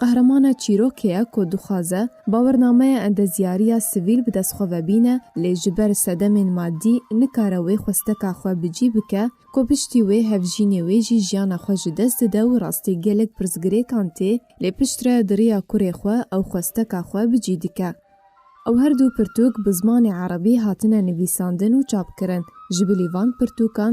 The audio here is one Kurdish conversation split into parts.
Qehramana çîrokê ye ku dixwaze bawernameya endezyariya sivîl bi dest xwe ve bîne lê ji ber sedemên madî nikare wê xwesteka xwe bi cî bike ku piştî wê hevjînê wê jî jiyana xwe ji dest dide û rastî gelek pirsgirêkan tê lê piştre di riya kurê xwe ew xwesteka xwe bi cî dike. Ew her du pirtûk bi zimanê erebî hatine nivîsandin û çapkirin. Ji bilî van pirtûkan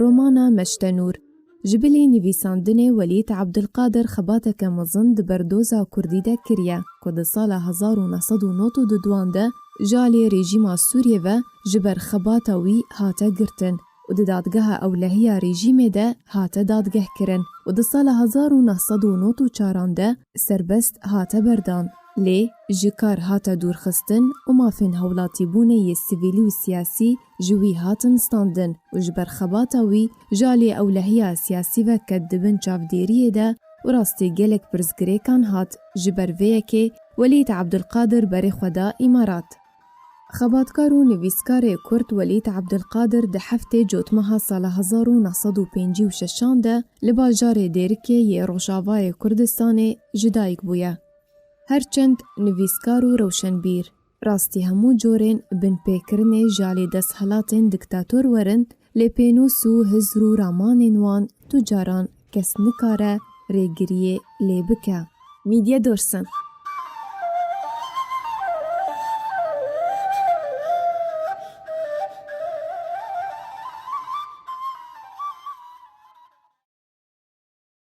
Romana Meştenûr, ji bilî nivîsandinê Welîd Abdulkadir xebateke mezin di ber doza kurdî de kiriye ku di sala hezar û neh sed û nod û du duan de ji aliyê rêjîma Sûriyê ve ji ber xebata wî hate girtin û di dadgeha ewlehiya rêjîmê de hate dadgehkirin û di sala hezar û neh sed û nod û çar an de serbest hate berdan. Lê ji kar hate dûrxistin û mafên hewlatîbûnê yê sivîlî û siyasî ji wî hatin standin û ji ber xebata wî ji aliyê ewlehiya siyasî ve ket di bin çavdêriyê de û rastî gelek pirsgirêkan hat. Ji ber vê yekê Welîd Ebdulkadir berê xwe da Îmarat. Xebatkar û nivîskarê Kurd Welîd Ebdulkadir di heftê cotmeha sala hezar û neh sed û pêncî û şeş an de li bajarê Dêrikê yê Rojavayê Kurdistanê ji dayik bûye. Her çend nivîskar û rewşenbîr, Rastî hemû corên binpêkirinê ji alî desthilatên diktator werin, lê pênûs û hizr û ramanên wan tu caran kes nikare rêgiriyê lê bike. Mîdye Dorsin.